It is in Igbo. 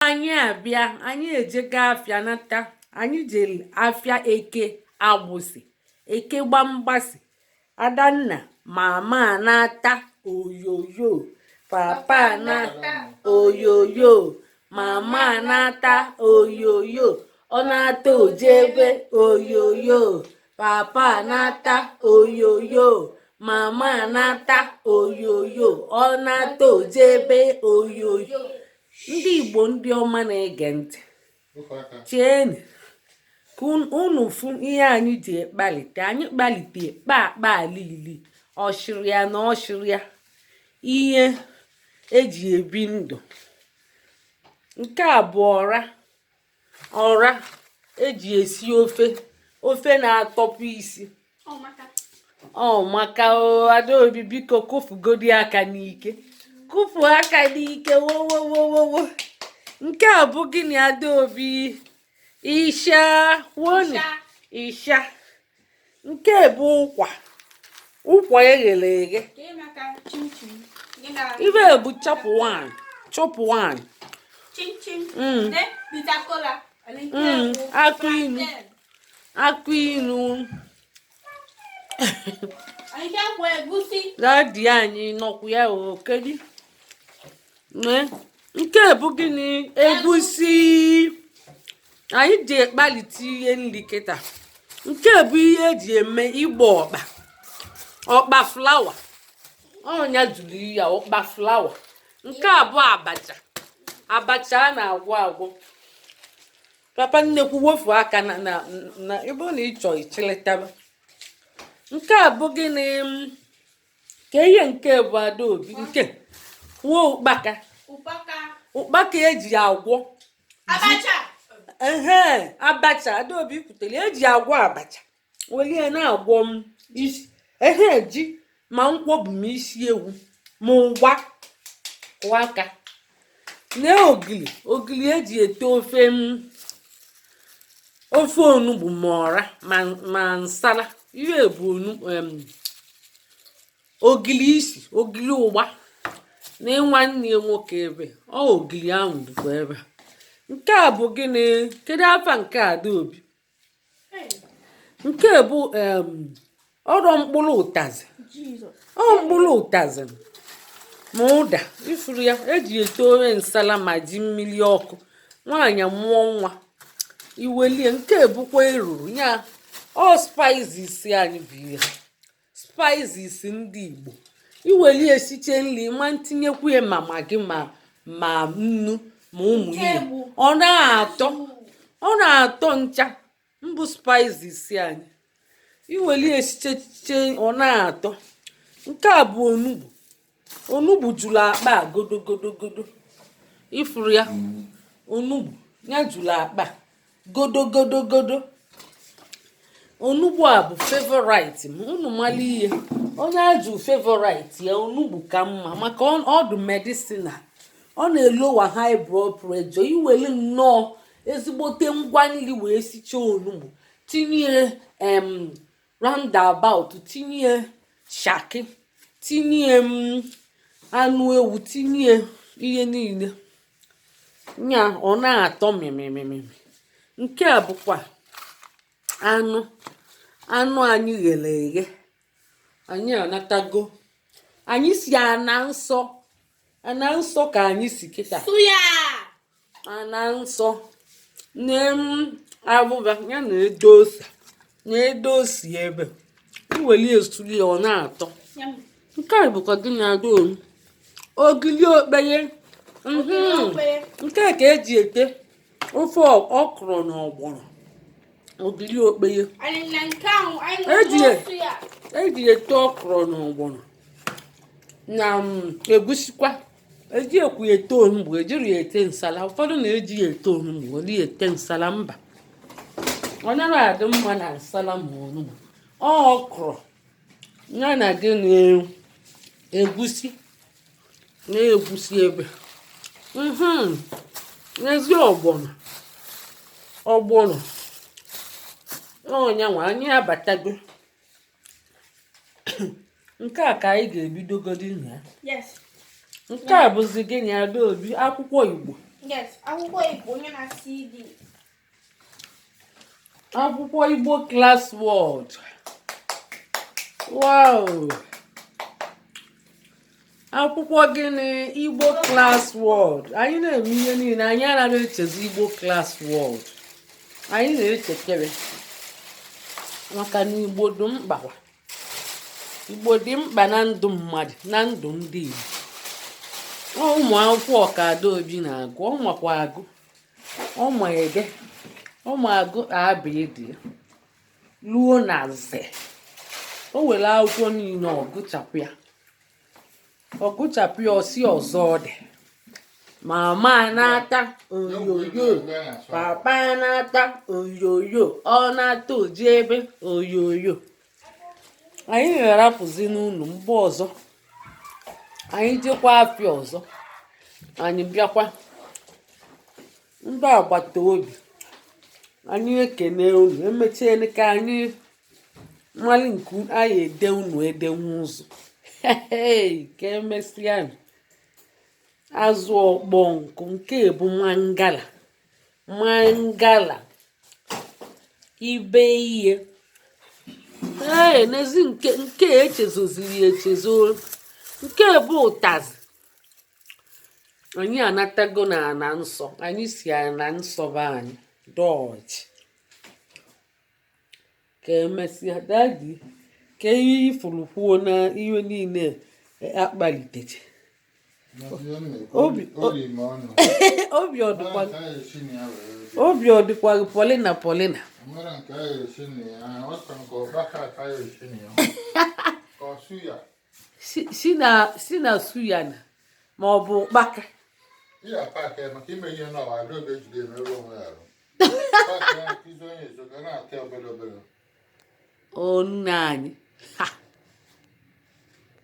anyị abịa anyị ejega afịa nata anyị jere afịa eke agbụsị eke gbamgbasị adanna mama anata oyoyo papa anata oyoyo mama anata oyoyo ọ nata o jebe oyoyo papa anata oyoyo mama anata oyoyo ọ nata o jebe oyoyo ndị igbo ndị ọma na-ege ntị cheeni ka unu fụ ihe anyị ji ekpalite anyị kpalite akpa akpa alili ọshịrịa na ọshịrịa ihe eji ebi ndụ nke a bụ ọra ọra eji esi ofe ofe na-atọpụ isi ọ maka adaobi biko kụfugodi aka n'ike kụfu aka n'ike wowowowowo nke a bụ gịnị adaobi isha wonu isha nke bụ ụkwa ụkwa eghere eghe ibe bụ chop one chop one mm. mm. akụ inu akụ inu dadi anyị nọkwu ya o kedu nke bụ gịnị egusi anyị ji ekpalite ihe nri kịta nke bụ ihe eji eme ịgba ọkpa ọkpa flour onye zụrụ ya ọkpa flour nke a bụ abacha abacha a na-agwọ agwọ papa nnekwu wofu aka na na ịbụ na ịchọ ichilitaba nke a bụ gịnị kee ihe nke bụ adaobi nke nwa ụkpaka ụkpaka eji agwọ ehe abacha adaobi kwutere eji agwọ abacha welie na-agwọ ma isi ehe ji ma nkwọbi ma isi ewu ma ụgba kụọ aka lee ogili ogili eji ete ofe ma ofe onugbu ma ọra ma ma nsala ihe bụ onu em, ogili isi ogili ụgba na nwanne ya nwoke ebe ọ ogili ahụ dịkwa ebe a. nke a bụ gịnị kedu afa nke a adaobi nke bụ ọrụ mkpụrụ ụtazị ọ mkpụrụ ụtazị ma ụda ị fụrụ ya eji ete ofe nsala ma ji mmiri ọkụ nwaanyị mụọ nwa i welie nke bụkwa eruru ya ọ spices anyị bụ ihe spices ndị Igbo iweli esiche nri ma ntinyekwu ya ma Maggi ma nnu ma ụmụ ihe ọ na-atọ ọ na-atọ ncha mbụ spices anyị iweli esiche ihe ọ na-atọ nke a bụ onugbu onugbu juru akpa a godogodogodo ị fụrụ ya onugbu ya juru akpa godogodogodo onugbu a bụ favorite m unu mala ihe onye ajụ favorite ya onugbu ka mma maka ọ dị medicinal ọ na-elowa high blood pressure iwere nnọọ ezigbote ngwa nri wee sichaa onugbu tinye em roundabout tinye shaki tinye mm, anụ ewu tinye ihe niile ya ọ na-atọ mịmịmịmị nke a bụkwa anụ anụ anyị ghere eghe anyị anatago anyị si ana nsọ ana nsọ ka anyị si kịta ana nsọ na abụba ya na edo ose na edo ose ebe iweli esuli ọ na-atọ nke a bụkwa gịnị adaobi ogili okpeye mhm. nke a ka eji ete ofe ọkwụrụ na ọgbọnọ ogiri okpeye eji ete ọkwụrụ na ọgbọnọ na mm, egusikwa ejikwu ya ete onugbu ejiri ya ete nsala ụfọdụ na-eji ya ete onugbu weli ya ete nsala mba ọ naghị adị mma na nsala ma onugbu ọkwụrụ ya na gịnị egusi na egusi ebe mhm. n'ezi ọgbọnọ ọgbọnọ ọ nya nwa anyị abatago nke a ka anyị ga-ebidogodi na ya nke a bụzi gịnị adaobi akwụkwọ igbo akwụkwọ igbo onye na-asị akwụkwọ igbo class word wow akwụkwọ gịnị igbo class word anyị na-eme ihe niile anyị anaghị echezọ igbo class word anyị na-echekere maka na igbo dị mkpa igbo dị mkpa na ndụ mmadụ na ndụ ndị igbo ụmụ akwụkwọ a ka adaobi na-agụ ọ makwa agụ ọ ma ede ọ ma agụ abịdị luo na ze o were akwụkwọ niile ọ gụchapụ ya ọ gụchapụ ya ọ sị ọzọ ọ dị mama anata oyoyo papa anata oyoyo ọ nata oji ebe oyoyo anyị na-arapụzi unu mgbe ọzọ anyị jekwa afịa ọzọ anyị bịakwa ndị agbata obi anyị ekene unu emechiele ka anyị malị nke anyị ede unu edenwu ụzọ ka emesịa azụ ọkpọ nkụ nke bụ mangala mangala ibe ihe ee n'ezi nke echezoziri echezo nke bụ ụtazị anyị anatago na ana nsọ anyị si ana nsọ be anyị dọọchị ka emesịa dadi ka ihe ị fụrụ kwuo na ihe niile akpalitecha obi ọ dịkwaghị Paulina Paulina si na suya na ma ọ bụ ụkpaka onu anyị